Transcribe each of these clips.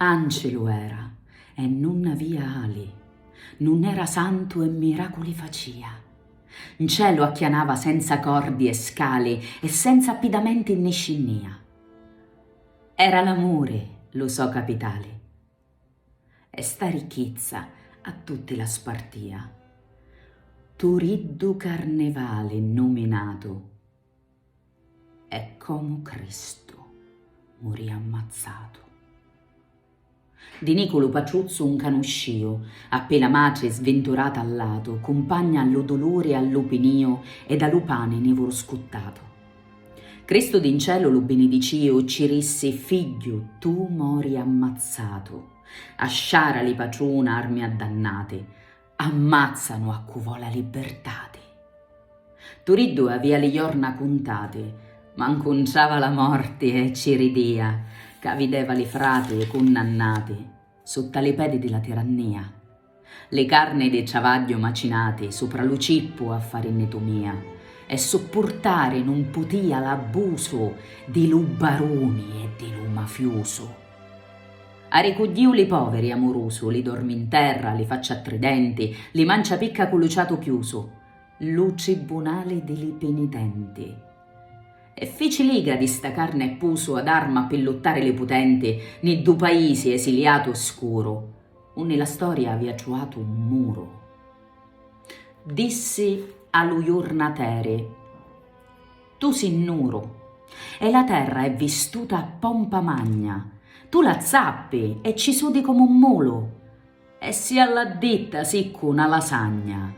Ancilu era, e nun avia ali, nun era santu e miraculi facia. Ncielu acchianava senza cordi e scali e senza appidamenti nni scinnia. Era l'amuri lu so capitali. E sta ricchizza a tutti la spartia. Turiddu Carnevali nnuminatu. E comu Cristu murì ammazzatu. Di Nicu lu patruzzu 'un canuscìu, appi la matri svinturata a latu, cumpagna a lu duluri e a lu pinìu ed a lu pani nivuru scuttatu. Cristu di 'n celu lu binidicìu, cci rissi, Figghiu, tu mori ammazzatu, a sciara li patruna armi addannati, Ammazzanu a cu vo' la libbertati. Turiddu avia li jorna cuntati, ma 'ncunciava la morti e ci ridia, ca videva li frati cunnannati sutta li pedi di la tirannia. Li carni di ciavagghiu macinati supra lu cippu a fari nitumia e suppurtari nun putia l'abbusu di lu baruni e di lu mafiusu. Arricugghiu li poveri, amurusu, li dormi 'n terra, li faccia tridenti, li mancia picca cu lu ciatu chiusu, lu tribbunali di li pinitenti. E fici liga di sta carni e pusu ad arma pi luttari li putenti, ni ddu paisi esiliatu e scuru, unni la storia avia truatu un muru. Dissi a lu jurnateri. Tu si nuru. E la terra è vistuta a pompa magna. Tu la zappi e ci sudi comu un mulu. E si a la ditta siccu na lasagna.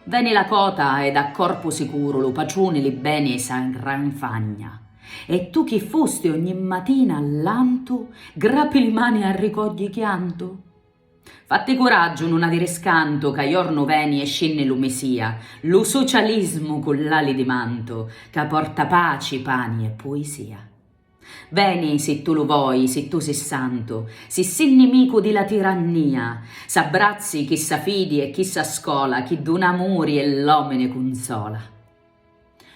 Veni la cota ed a corpu sicuru lu patruni li beni sa ngranfagna. E tu chi fusti ogni matina a lantu grapi li mani a ricogghi chiantu? Fatti curaggiu, nun aviri scantu ca jornu veni e scinni lu Messia, lu socialismu cu l'ali di mantu ca porta paci, pani e puisia. Veni si tu lu voi, si tu si santu, si si nimicu di la tirannia, s'abbrazzi chissa fidi e chissa scola chi duna amuri e l'omini cunsola.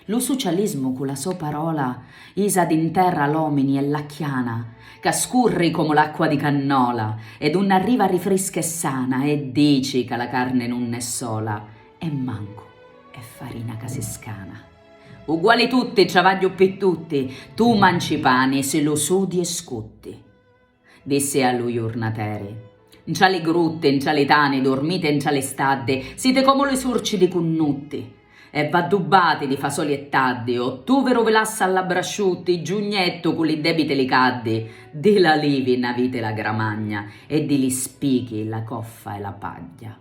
Lu sucialismu cu la so parola isa di 'nterra l'omini è l'acchiana ca scurri comu l'acqua di cannola ed unni arriva rifrisca e sana e dici ca la carni nun è sola e mancu è farina ca si scana. Uguali tutti, travagghiu pi tutti, tu manci pani si lu sudi e scutti. Dissi a lu jurnateri. Ntra li grutti, ntra li tani, dormite ntra li staddi, siti comu li surci di cunnutti. E v'addubbati di fasoli e taddi, o tuviru vi lassa a labbra asciutti, giugnettu cu li debiti li caddi, di l'alivi n'aviti la gramagna, e di li spichi la coffa e la pagghia.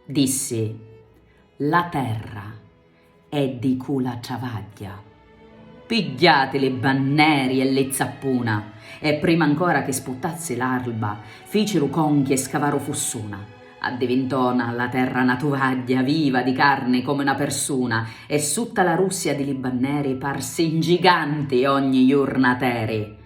Dissi. La terra, E di cu la travagghia. Pigghiati li banneri e li zappuna! E prima ancora chi sputtazzi l'arlba, ficiru conchi e scavaru fussuna. Addivintò na la terra na tuvagghia viva di carni comu na persuna e sutta la russia di li banneri parsi 'n giganti ogni jurnateri.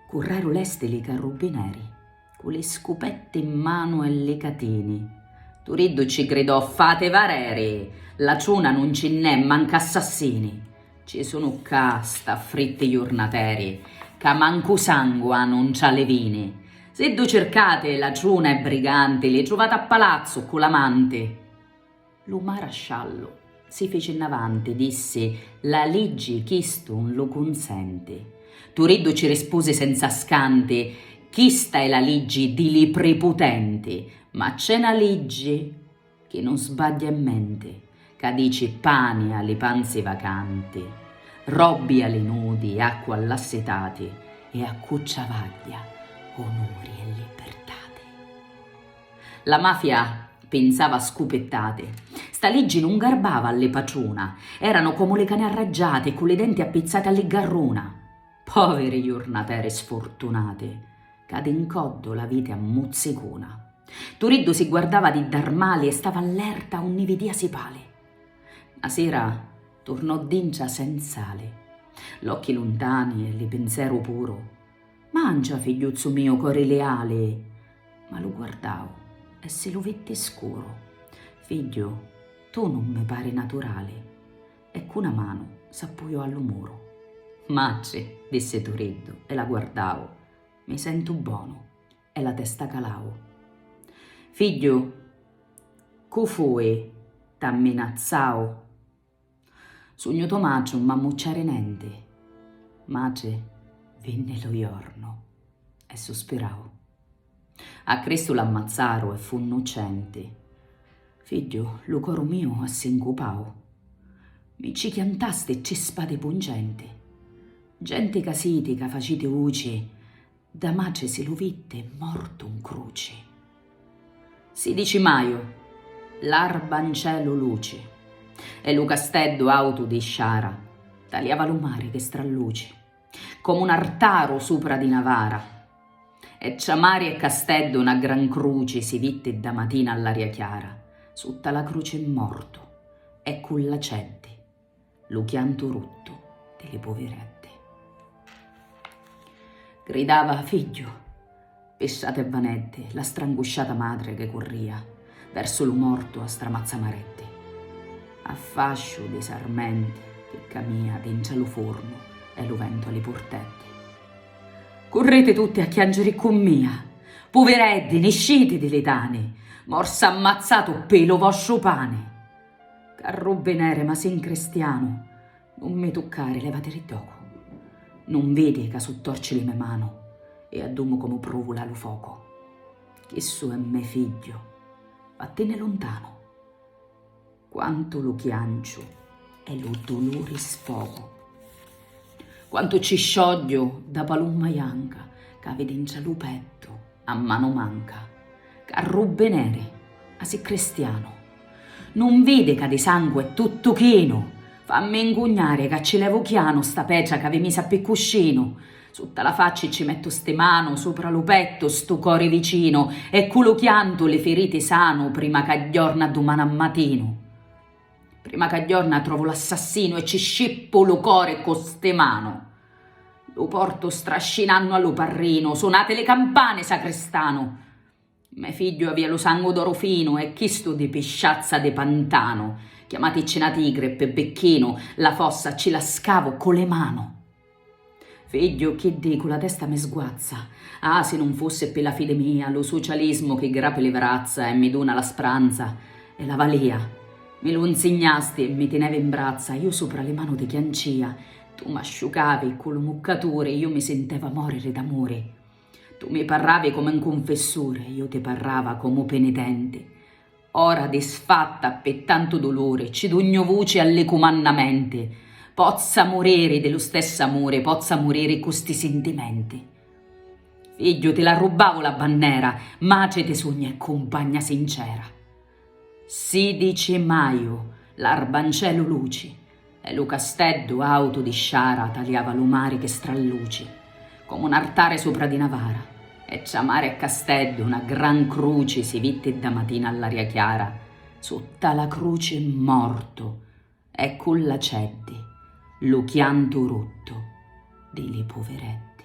Curreru lesti li carrubbineri. Cu li scupetti 'n manu e li catini. Turiddu ci gridò, Fati vareri! La ciuna nun ci nn'è, manca assassini! Ci sunu ccà, st'affritti jurnateri, ca mancu sangu anu ntra li vini! Siddu circati la ciuna e briganti, li truvati a palazzu, ccu l'amanti! Lu marasciallu si fici 'nnavanti, dissi, La liggi chistu 'un lu cunsenti. Turiddu ci rispusi senza scanti, Chista è la liggi di li priputenti, ma c'è 'na liggi, chi nun sbagghia e menti, ca dici pani a li panzi vacanti, robbi a li nudi, acqua all'assitati, e a cu ciavagghia, onuri e libirtati. La mafia pinzava scupittati. Sta liggi nun garbava a li patruna. Eranu comu li cani arraggiati e cu li denti appizzati a li garruna. Poviri jurnateri sfurtunati, ca di 'ncoddu l'aviti a muzzicuna. Turiddu si guardava di dar mali e stava allerta unni vidia si pali. Na sira turnò dintra senz'ali. L'occhi luntani e li pinzeru puru. Mancia, figghiuzzu miu cori liali! Ma lu guardau e si lu vitti scuru. Figghiu, tu nun mi pari naturali. E cu 'na manu s'appujò a lu muru. Matri, dissi Turiddu e la guardau, mi sentu bonu. E la testa calau. Figghiu, cu fui? T'amminazzau? Sugnu Tomacciu, nun m'ammucciari nenti. Matri, vinni lu jornu e suspirau. A Cristu l'ammazzaru e fu 'nnuccenti. Figghiu, lu coru miu assincupau. Mi ci chiantasti tri spadi puncenti. Genti ca siti ca faciti uci Dda mace si lu vitte mortu 'n cruci. Si dici maju, l'arba 'n celu luci, e lu casteddu autu di sciara taliava lu mari che stralluci, comu 'n artaru supra di 'na vara. E tra mari e casteddu 'na gran cruci si vitti dda matina all'aria chiara, sutta la cruci 'n mortu e cu l'aceddi lu chiantu ruttu di li puviretti. Gridava figghiu, pissati e vanetti, la strangusciata matri chi curria versu lu mortu a stramazza maretti. A fasciu di sarmenti chi camia dintra lu furnu e lu ventu a li purtetti. Curriti tutti a chiangiri ccu mia, puvireddi, nisciti di li tani, morsa ammazzatu ppi lu vostru pani. Carrubbineri, ma si 'n cristianu! Nun mi tuccari, levatiri ddocu! Nun vidi ca su' torci li me' manu e addumu comu pruvula lu focu! Chissu è me' figghiu! Vattinni luntanu! Quantu lu chianciu e lu duluri sfogu! Quantu ci sciogghiu dda palumma janca ca havi dintra lu pettu! a manu manca, ca rubineri, ma si cristianu, nun vidi ca di sangu è tuttu chinu, fammi 'ncugnari ca ci levu chianu sta petra c'avi misa ppi cuscinu, sutta la facci ci mettu sti manu, supra lu pettu stu cori vicinu, e cu lu chiantu li firiti sanu prima c'agghiorna dumani a matinu. Prima ca ghiorna trovu l'assassinu e ci scippu lu cori cu sti manu. Lu portu strascinannu a lu parrinu, sunati li campani, sacristanu! Me figghiu avia lu sangu d'oru finu e chistu di pisciazza di pantanu. Chiamaticci na tigri, pi bicchinu, la fossa ci la scavu cu li manu. Figghiu, chi dicu, la testa mi sguazza. Ah, si nun fussi ppi la fidi mia, lu sucialismu chi grapi li vrazza e mi duna la spranza e la valia. Mi lu 'nsignasti e mi tinevi 'n brazza, iu supra li manu ti chiancia, tu m'asciucavi ccu lu muccaturi, iu mi sinteva mòriri d'amuri. Tu mi parravi comu 'n cunfissuri e iu ti parrava comu penitenti. Ora disfatta ppe tantu duluri, ci dugnu vuci a li cumannamenti, pozza muriri di lu stessu amuri, pozza muriri cu sti sintimenti. Figghiu, ti l'arrubbavu la bannera, matri ti sugnu e cumpagna sincera. Sidici Maju, l'arbancelu luci, E lu casteddu autu di sciara taliava lu mari chi stralluci, comu n'artare supra di na vara, e tra mare e casteddu na gran cruci si vitti dda matina all'aria chiara, sutta la cruci mortu e ccu l'aceddi, lu chiantu ruttu di li puvireddi.